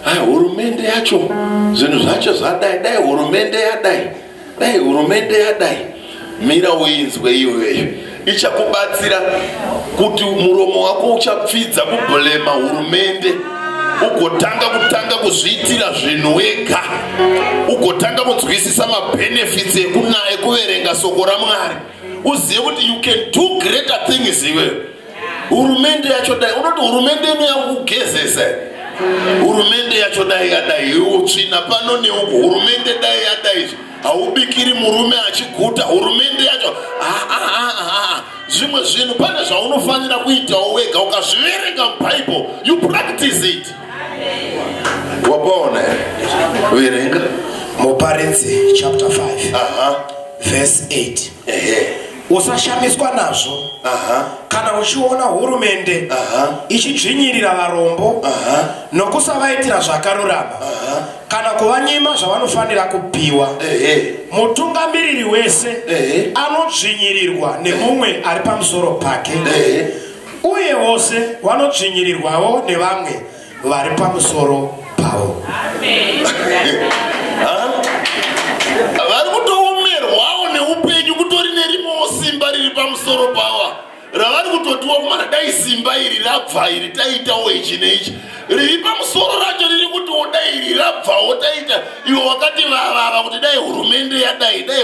Hai hurumende yacho zvinhu zvacho zvadai dai hurumende yadai dai hurumende yadai mira uinzwe iyoyoyo ichakubatsira kuti muromo wako uchapfidza kubhulema hurumende ugotanga kutanga kuzviitira zvinhu wega ugotanga kunzwisisa mabhenefits ekuverenga soko ramwari uzive kuti you can do greater things iweyo hurumende yacho dai unoti hurumende ino yakugezesa hurumende yacho dai yadai utsvina pano neuku hurumende dai yadai haubikiri murume achiguta hurumende yacho zvimwe zvinhu pane zvaunofanira kuitawo wega ukazviverenga mubible you practice it wapaona verenga muparidzi chapter 5 verse 8 Usashamiswa nazvo. Aha. Kana uchiona hurumende Aha. ichidzvinyirira varombo Aha. nokusavaitira zvakarurama Aha. kana kuvanyima zvavanofanira kupiwa, Ehe. mutungamiriri wese Ehe. anodzvinyirirwa nemumwe ari pamusoro pake, Ehe. uye vose vanodzvinyirirwawo nevamwe vari pamusoro pavo vari kutoomerwawo neupenyu kutori nerimowo simba riri pamusoro pavo ravari kutotiwa kumana dai simba iri rabva iri taitawo ichi neichi riri pamusoro racho riri kutiwo dai iri rabvawo taita ivo vakati vavava kuti dai hurumende yadai dai